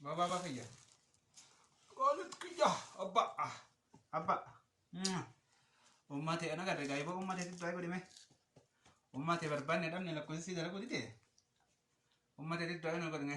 Baba baba kiyya. Qoolit kiyya abba ah, abba. Mm. Uummate ana gadi gaa'iba uummate tibbaa godhime. Uummate barbaanne dhabne lakkoofsi dalagu dide. Uummate tibbaa nu godhine.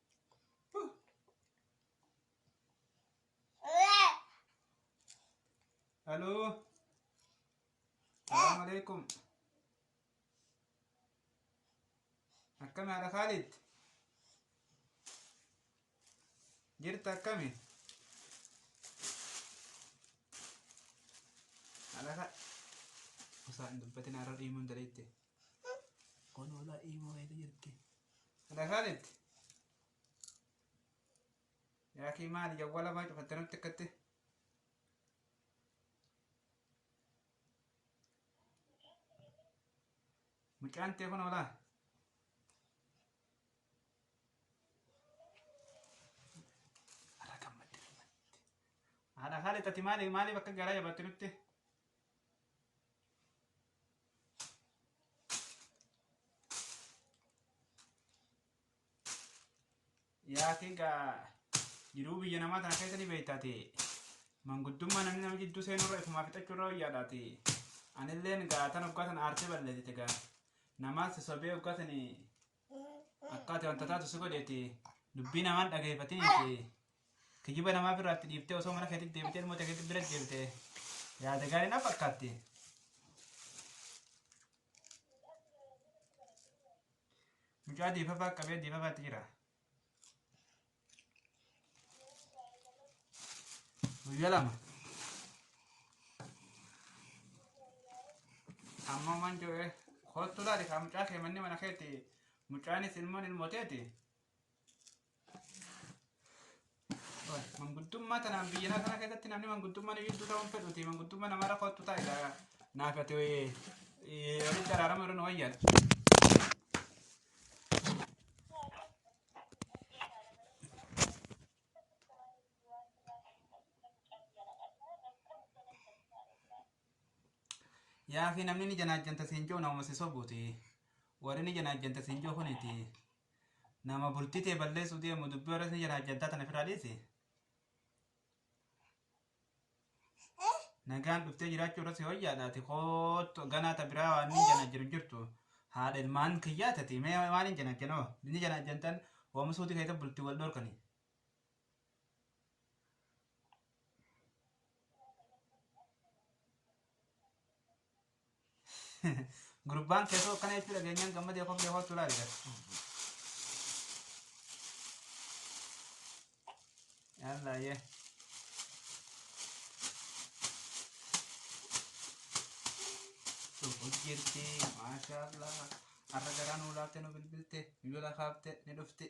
Halo. Assalamualaikum. Akkam haadha Khalid? Jirta akkami? Haadha Khalid. Osoo hin dubbatin har'a dhiimuun daleette. Kun wala imo eti jirti. Lasaanitti. Yaa kee maali jawwala maa cufatte nutti akkatti. Mucaan tee kun olaa. Ara gammadde gammadde. Haadha haala itti maali maaliif akka garaa jabatte nutti. Yaatiin gaa jiruu biyya namaa tana keessa ni beektaati. Manguddummaa namni nama jidduu seenuu irra ifumaa fixachuu irra wayyaadhaati. Anilleen gaa tan hoggaa tan aartee balleessite gaa. Namaas sobee hoggaa tani akkaati wanta taatu si godheeti. Dubbii namaan dhageeffatiniiti. Kijiba namaa biraatti dhiiftee osoo mana keetti deebitee ilmoo ta'e keetti bira deebite yaada gaarii na fakkaatti. Mucaa diifafaa qabee diifafaatti jira. Guyyaa lama. Amma waan jedhee kottu laali kaa mucaa kee manni mana keetti mucaanis ilmoon ilmooteeti. Manguddummaa tanaan biyya lafaa kana keessatti namni manguddummaa ni jidduu ta'uun fedhuuti. Manguddummaa nama irra kottu ta'a ilaa naaf ati walitti araarama irra nu wayyan. Yaa fi namni ni janaajjanta siin jiru nama si sobuuti. Warri ni janaajjanta siin jiru kuniti. Nama bultii tee balleessuu deemu dubbii warra isin jedhan hajjantaa tana ofirraa dhiisi. Nagaan dhuftee jiraachuu irratti hoyyaadha ati koottu ganaa ta biraa waan ni jana jiru jirtu. Haadha ilmaan kiyyaa tati mee waan hin jana janoo. Ni jana jantan oomishuuti keessa bultii wal dhorkani. Gurbaan keessoo akkana jechuu dhageenyaan gammadee koflee kootu laali gara. Yallaa yee. Suuquu jirti maashaallah. Har'a garaa nuu laaftee nu bilbilte bilbila kaafte ni dhufti.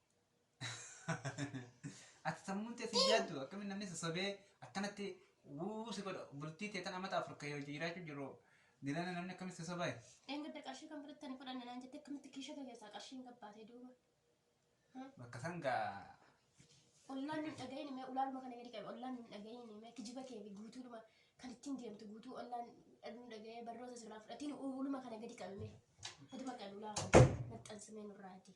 Ati sammuun tee si yaaddu akkamiin namni sassobee akkanatti wuu si godha bultii tee tan amata afur ka'ee hojii jiraachuu jiru dilana namni akkamiin si sobaa Dheengadda qarshii kan biratti ani fudhanne naan jettee akkamitti kiisha kee keessaa qarshiin gabbaatee duuba. bakka san gaa Ollaan hin dhagahin mee ulaaluma kana gadi qabe ollaan hin dhagahin mee kijiba kee fi guutuudhuma kan ittiin deemtu guutuu ollaan dhagnu dhagahee barnoota sirraa fudhatiin uuluma kana gadi qabe mee gadi maqaan ulaa maxxansimee nurraa adii.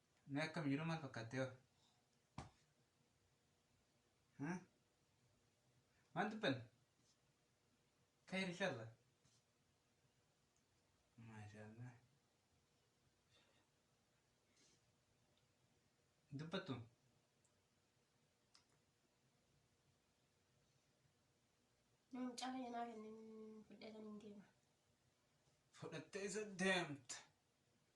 Mee akkam jiru maal fakkaattee hoo? Hmm? Maal dubbanne? Khayr inshallah. Maashaallah. Dubbattu. Namni cala yanaa kennin fudhatan hin deema. Fudhattee isa deemta.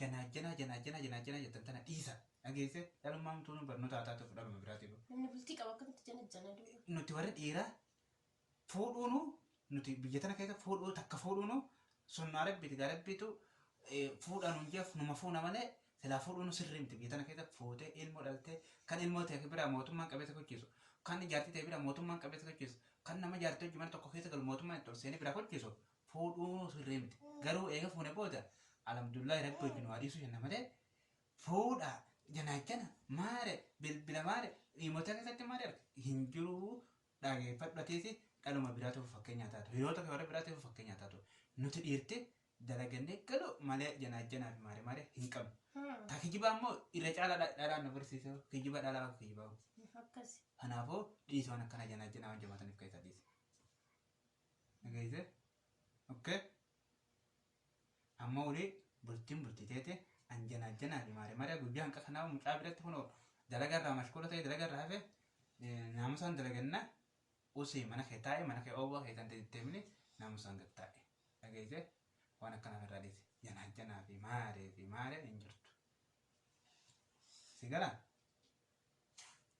Janaajjanaa janaajjanaa janaajjanaa jettan tana dhiisa. Dhageesse dhalummaan tuunuu barnootaa taate fudhaa nama biraatii boo. Namni bultii qabu akkamitti janajjana duuba. Nuti warri dhiiraa fuudhuunu nuti biyya tana keessa fuudhuu takka fuudhuunu sunnaa rabbiiti gaa rabbiitu eh, fuudhaa nuun jeef numa fuuna malee silaa fuudhuunu sirrii miti biyya tana keessa fuutee ilmoo dhaltee kan ilmoo ta'e biraa mootummaan qabeessa gochiisu kan jaartii ta'e biraa mootummaan qabeessa gochiisu kan nama jaartii hojii mana tokko keessa galu mootummaan itti ol seenee biraa gochiisu fuudhuun sirrii miti. Garuu eega fuune booda alhamdulillahi rabbi wajjin waa dhiisuu jenna malee fuudha janaachana maare bilbila maare dhiimota keessatti maare arge hin jiru dhageeffadhu atiisi dhaluma biraatiif fakkeenyaa taatu hiriyoota kee warra biraatiif fakkeenyaa taatu nuti dhiirti dalagannee galu malee janaachanaa fi maare maare hin qabnu. Ta kijibaa immoo irra caalaa dha- dhalaan nu barsiise kijiba dhalaa akka kijibaa. Akkasi. Kanaafuu dhiisoo waan akkana janaachanaa waan jabaataniif keessaa dhiise. Dhageessee? Okkee? Amma olii bultiin bultii teete an janaa janaa fi maaree maaree guyyaa hanqa kanaa mucaa biratti kunoo dalaga irraa mashkuula ta'e dalaga irraa hafe naamusaan dalagannaa usii mana kee taa'e mana kee oowwaa kee tante deemni naamusaan gad taa'e. Dhageessee? Waan akkanaaf irraa dhiise. Janaa janaa fi maaree fi maaree hin jirtu. Si galaa?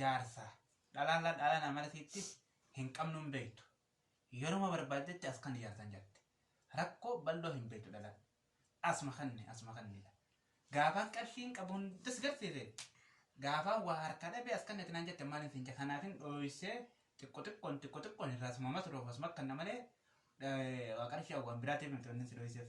jaarsa dhalaalla dhaala namarsiitti hin qabnu hin beektu yeruma barbaaddetti as kan jaarsan jette rakkoo bal'oo hin beektu dhala asma kanne asma kannedha gaafaan qarshiin qabu hundas garsiise gaafaan waa harkaa dhabee as kannatti naan jette maaliin siin kanaafin dhooysee xiqqo xiqqoon xiqqo xiqqoon irraa sumama turuuf asuma akka namalee waa qarshii waan biraatiif miti wanni si dhooyseef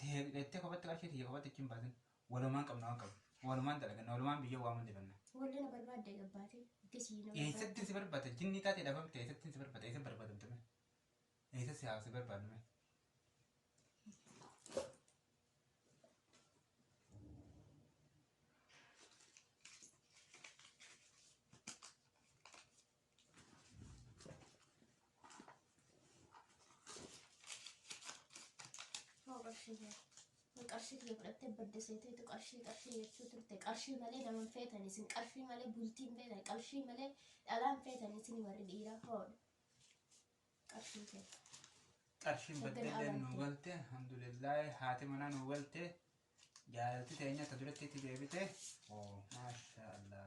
Teettee kopatti qarshii tiyya kopatti achi hin baasin. Walumaan qabna waan qabnu. Walumaan dalaganna. Walumaan biyya waan hundi banna. Wallee na barbaadda egaa baate. Itti sii na barbaadda. Eessatti si barbaada? Jinnii taatee dhabamte eessatti si barbaada? Eessa barbaadamte mee? Eessa si haa si barbaadnu mee? qarshii kiyya fudhattee badda seeteetu qarshii qarshii jechuu turte qarshii malee nama hin feetan isin qarshii malee bultii hin feetan qarshii malee dhalaa hin feetan isin warri dhiiraa hoodha qarshii kee qarshiin Shaggar baddellee nu amantii. galte alhamdulillahi haati manaa nu galte jaalalti teenya ta duratti itti deebite oo maashaallah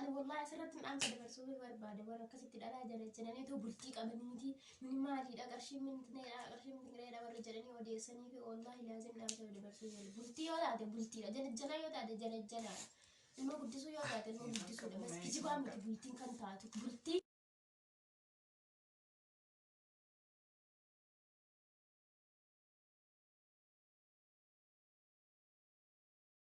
Ani wallahi asirratti dhaamsa dabarsuu barbaade warra akkasitti dhalaa jala jedhanii too bultii qabaniiti mini maaliidha qarshii mintineedha qarshii mintineedha warra jedhanii odeessanii fi wallahi laazim dhaamsa dabarsuu jala bultii yoo taate bultiidha jalajjalaa yoo taate jalajjalaa ilma guddisuu yoo taate ilma guddisuudha bas kijibaa miti bultiin kan taatu bultii